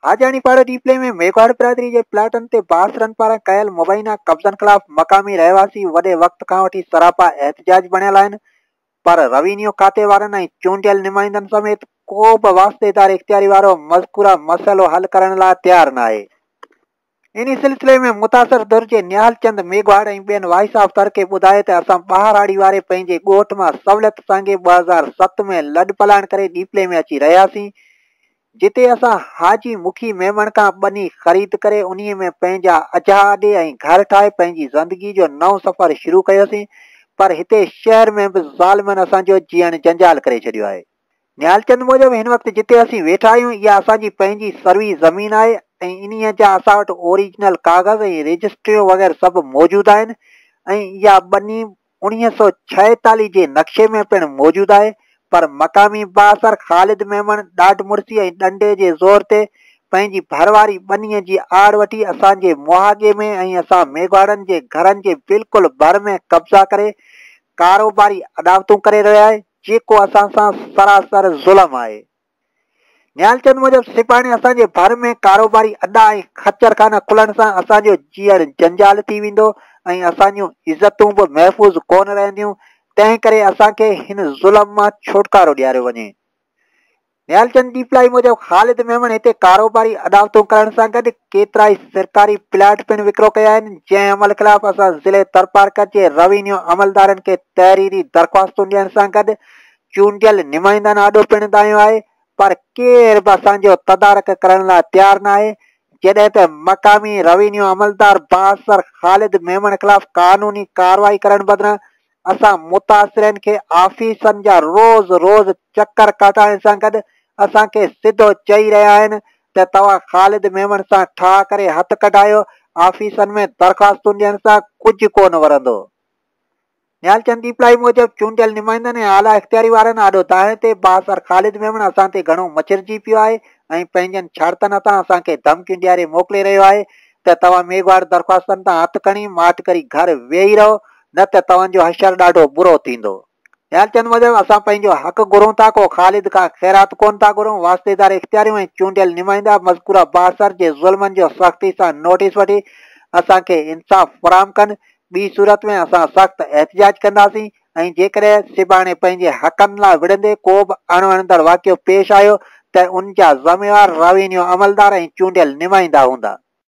حاجاڻي پاڙي ڊي پلي ۾ ميگھواڙ برادري جي پلاٽن تي بااثرن پاران ڪيل مبينا قبضن خلاف مقامي رهواسي وڏي وقت کان وٺي سراپا احتجاج بڻيل آهن پر روينيو کاتي وارن ۽ چونڊيل نمائندن سميت ڪو به واسطيدار اختياري وارو مذڪوره مسئلو حل ڪرڻ لاء تيار ناهي انهي سلسلي ۾ متاثر ڌر جي نهال چند ميگهواڙ ۽ ٻين وائس آف ٿر کي ٻڌايو ته اسان ٻهراڙي واري پنهنجي ڳوٺ مان سولت سانگي ٻه هزار ست ۾ لڏ پلاڻ ڪري ڏيپلي ۾ اچي رهياسين جتي اسان حاجي مکي ميمڻ کان ٻني خريد ڪري انهي ۾ پنهنجا اجها اڏي ۽ گهر ٺاهي پنهنجي زندگي جو نئون سفر شروع ڪيوسين پر هتي شهر ۾ به ظالمن اسان جو جيئڻ جنجال ڪري ڇڏيو آهي. نهالچند موجب هن وقت جتي اسين ويٺا آهيون اها اسان جي پنهنجي سروي زمين آهي ۽ انهيء جا اسان وٽ اوريجنل ڪاغذ ۽ رجسٽريون وغيره سڀ موجود آهن ۽ اها ٻني انويهه سؤ ڇاهيتاليهه جي نقشي ۾ پڻ موجود آهي پر مقامي بااثر خالد ميمڻ ڏاڍ مڙسي ۽ ڏنڊي جي زور تي پنهنجي ڀر واري ٻنيء جي آڙ وٺي اسان جي مهاڳي ۾ ۽ اسان ميگهواڙن جي گهرن جي بلڪل ڀر ۾ قبضا ڪري ڪاروباري اڏاوتون ڪري رهيو آهي، جيڪو اسان سان سراسر ظلم آهي. نهال چند موجب سپاهڻي اسان جي ڀر ۾ ڪاروباري اڏا ۽ خچر خانا کلڻ سان اسان جو جيئڻ جنجال ٿي ويندو ۽ اسان جون عزتون به محفوظ ڪونه رهنديون، تنهن ڪري اسان کي هن ظلم مان ڇوٽڪارو ڏياريو وڃي. نيالچند ڏيپلائي موجب خالد ميمڻ هتي ڪاروباري اڏاوتون ڪرڻ سان گڏ ڪيترائي سرڪاري پلاٽ پڻ وڪرو ڪيا آهن جنهن عمل خلاف اسان ضلعي ٿرپارڪر جي روينيو عملدارن کي تحريري درخواستون ڏيڻ سان گڏ چونڊيل نمائندن آڏو پڻ دانهيو آهي پر ڪير به اسان جو تدارڪ ڪرڻ لاء تيار ناهي جڏهن ته مقامي روينيو عملدار بااثر خالد ميمڻ خلاف قانوني ڪارروائي ڪرڻ بدران اسان متاثرين کي آفيسن جا روز روز چڪر ڪاٽائڻ سان گڏ اسان کي سڌو چئي رهيا آهن ته توهان خالد ميمڻ سان ٺاهه ڪري هٿ ڪڍايو آفيسن ۾ درخواستون ڏيڻ سان ڪجهه ڪونه ورندو. نهال چند ڏيپلائي موجب چونڊيل نمائندن ۽ اعليٰ اختياري وارن آڏو دانهن تي بااثر خالد ميمڻ اسان تي گهڻو مچرجي پيو آهي ۽ پنهنجن شرطن هٿان اسان کي ڌمڪيون ڏياري موڪلي رهيو آهي ته توهان ميگهواڙ درخواستن تان هٿ کڻي ماٺ ڪري گهر ويهي رهو نه ته توهان جو حشر ڏاڍو برو ٿيندو. ٻيا چون موجب اسان پنهنجو حق گهرون ٿا ڪو خالد ڪا خيرات ڪونه ٿا گهرون واسطيدار اختياريون ۽ چونڊيل نمائندا مذڪوره بااثر جي ظلمن جو سختي سان نوٽيس وٺي اسان کي انصاف فراهم ڪن ٻي صورت ۾ اسان سخت احتجاج ڪنداسين ۽ جيڪڏهن سڀاڻي پنهنجي حقن لا وڙهندي ڪو به اڻ وڻندڙ واقعو پيش آيو ته ان جا ذميوار راوينيو عملدار ۽ چونڊيل نمائندا هوندا.